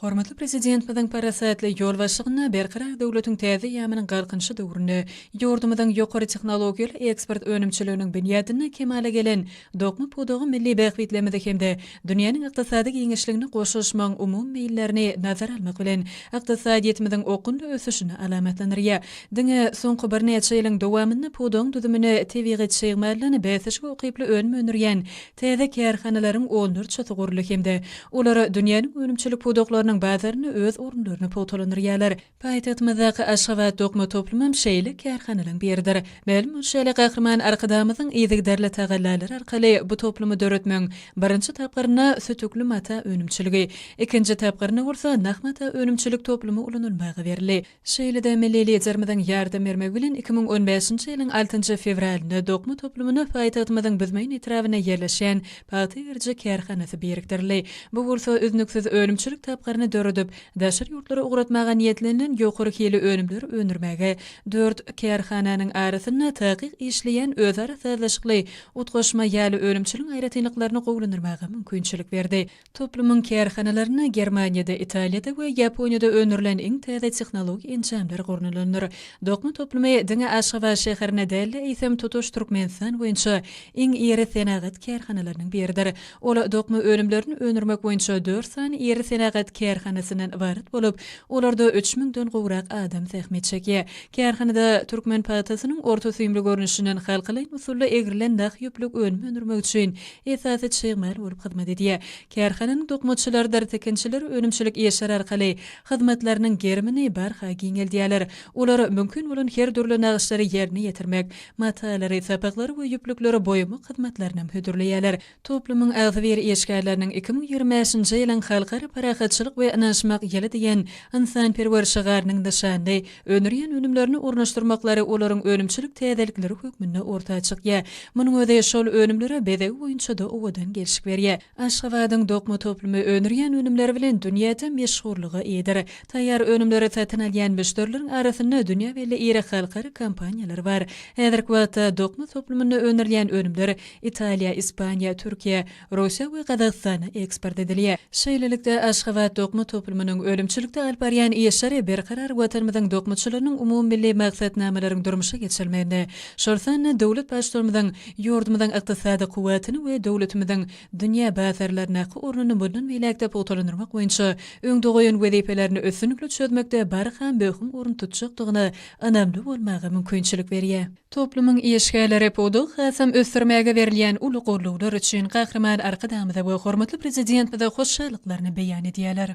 Hormatly Prezidentimiziň parasatly ýolbaşçylygynda Berkarar döwletiň täze eýýamynyň Galkynyşy döwründe ýurdumyzyň ýokary tehnologiýaly eksport önümçiliginiň binýadynda kemala gelen dokma pudagy milli bähbitlerimizi hem-de dünýäniň ykdysady giňişligine goşulyşmagyň umumy meýillerini nazara almak bilen, ykdysadyýetimiziň okgunly ösüşini alamatlandyrýar. Diňe soňky birnäçe ýylyň dowamynda pudagyň düzümine tebigy çig maldan bäsleşige ukyply önüm öndürýän Täze kärhanalaryň onlarçasy guruldy hem-de olar dünýäniň önümçilik pudaklarynyň bazarynda öz orunlaryny pugtalandyrýarlar. Paýtagtymyzdaky Aşgabat dokma toplumam şeýle kärhanalaryň biridir. Mälim bolşy ýaly, Gahryman Arkadagymyzyň yzygiderli tagallalary arkaly bu toplumy döretmegiň birinji tapgyrynda sütükli mata önümçiligi, ikinji tapgyrynda bolsa nah mata önümçilik toplumy ulanylmaga berildi. Şeýle-de milli Liderimiziň ýardam bermegi bilen iki müň on bäşinji ýylyň altynjy fewralynda dokma toplumyna paýtagtymyzyň Büzmeýin etrabynda ýerleşýän pagta geriji kärhanasy birikdirildi. Bu bolsa üznüksiz önümçilik tapgyryny döredip, daşary ýurtlara ugratmaga niýetlenilen ýokary hilli önümleri öndürmäge dört kärhananyň arasynda takyk işleýän özara sazlaşykly utgaşma ýaly önümçiligiň aýratynlyklaryny gowulandyrmaga mümkinçilik berdi. Toplumyň kärhanalarynda Germaniýada, Italiýada we Ýaponiýada öndürilen iň täze tehnologik enjamlar gurnalandyr. Dokma toplumy diňe Aşgabat şäherinde däl-de, eýsem, tutuş Türkmenistan boýunça iň iri senagat kärhanalarynyň biridir. Ol dokma önümlerini öndürmek boýunça dört sany iri senagat kärhanasyndan ybarat bolup, olarda üç müňden gowrak adam zähmet çekýär. Kärhanada türkmen pagtasynyň orta süýümli görnüşinden halkalaýyn usulda egrilen nah ýüplük önüm öndürmek üçin esasy çig mal bolup hyzmat edýär. Kärhananyň dokmaçylarydyr tikinçiler önümçilik işleri arkaly hyzmatlarynyň gerimini barha giňeldýärler. Olar mümkin bolan her dürli nagyşlary ýerine ýetirmek, matalary, sapaklary we ýüplükleri boýamak hyzmatlaryny hem hödürleýärler. Toplumyň agzybir işgärleriniň iki müň ýigrimi bäşinji ýylyň Halkara parahatçylyk we ynanyşmak ýyly diýen ynsanperwer şygarynyň nyşanly öndürýän önümlerini ornaşdyrmaklary olaryň önümçilik täzelikleri hökmünde orta çykýar. Munuň özi şol önümlere bezegi boýunça-da owadan gelşik berýär. Aşgabadyň dokma toplumy öndürýän önümleri bilen dünýäde meşhurlyga eýedir. Taýýar önümleri satyn alýan müşderileriň arasynda dünýä belli iri halkara kompaniýalary bar. Häzirki wagtda dokma toplumynda öndürilýän önümler Italiýa, Ispaniýa, Türkiýe, Russiýa we Gazagystana eksport edilýär. Şeýlelikde, Aşgabat dokma toplumynyň önümçilikde alyp barýan işleri Berkarar Watanymyzyň dokmaçylarynyň umumymilli maksatnamalaryň durmuşa geçirilmeginde, şol sanda döwlet Baştutanymyzyň ýurdumyzyň ykdysady kuwwatyny we döwletimiziň dünýä bazarlaryndaky ornuny mundan beýläk-de pugtalandyrmak boýunça öňde goýan wezipelerini üstünlikli çözmekde barha möhüm orun tutjakdygyna ynamly bolmaga mümkinçilik berýär. Toplumyň işgärleri pudagy hasam ösdürmäge berilýän uly goldawlar üçin Gahryman Arkadagymyza we hormatly Prezidentimize hoşallyklaryny beýan edýärler.